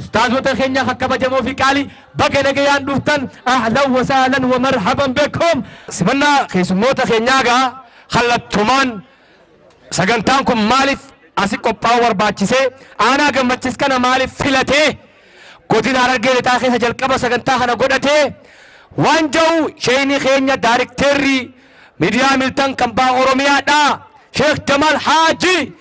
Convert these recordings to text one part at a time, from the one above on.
Ustaazota kenya ka kabajamoo fi qaali baga nagayaan dhuftan ahlan wa sahlan wa marhaban bekum. Simannaa keessummoota keenyaa egaa kallattumaan sagantaan kun maaliif asi qophaa'uu barbaachisee aanaa gammachis kana maaliif filatee godina harargee lixaa keessa jalqaba sagantaa kana godhatee waan ja'u sheeyni keenya daarikteerri miidiyaa miltan kan baa oromiyaadhaa sheekh jamaal haajii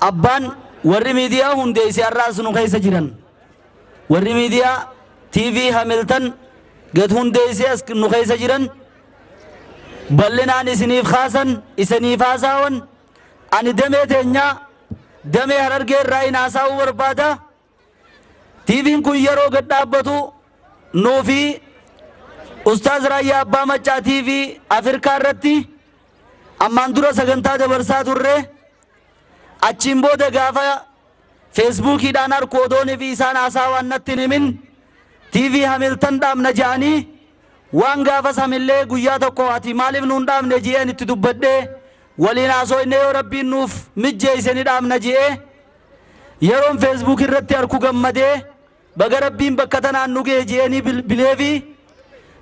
Abbaan warri miidiyaa hundeesse har'aas nu keessa jiran. Warri miidiyaa TV Hamilton gad hundeesse as nu keessa jiran bal'inaan isiniif kaasan isiniif haasaawan ani damee teenyaa damee harargee irraa hin haasaa'uu barbaada. Tvn kun yeroo gad dhaabbatu nuu fi Ustaaz Raayyaa Abbaa Maccaa TV Afirkaa irratti ammaan dura sagantaa dabarsaa turre achiin booda gaafa feesbuukiidhaan arku odoon fi isaan haasaa waan natti hin himin TV Hamiltan dhaabna jedhanii waan gaafas hamillee guyyaa tokko ati maaliif nuun dhaabne ji'een itti dubbadhee waliin haasoo inni yoo rabbiin nuuf mijjeeyse ni dhaabna ji'ee Yeroon Facebook irratti arku gammadee baga rabbiin bakka tanaan nu ga'e je'eenii bilbileefi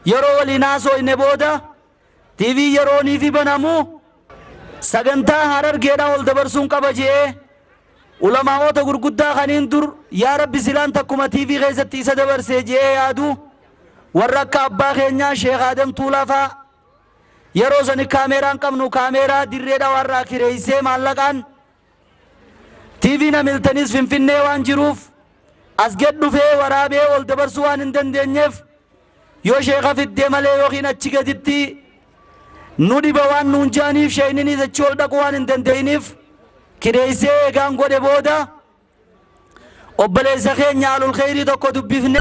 yeroo waliin haasooyne booda TV yerooniifi banamu sagantaa Harargeedhaa ol dabarsuun qaba je'ee ulamaa'oota gurguddaa kaniin dur yaa rabbi silaan takkuma TV keessatti isa dabarsee je'ee yaadu warra akka abbaa keenyaa Sheekh Adam Tuulaa fa'a yeroo sani kaameeraan qabnu kaameeraa dirree dhawaarraa kireessee maallaqaan TVn Hamiltanis Finfinnee waan jiruuf as gad dhufee waraabee ol dabarsuu waan hin dandeenyeef yoo sheeka fiddee malee yookiin achi gaditti nu dhiba waan nuun jaaniif sheeyninis achi ol dhaquu waan hin dandeeyniif kireeysee eegaan godhe booda obboleessa keenya alul kheyrii tokko dubbifne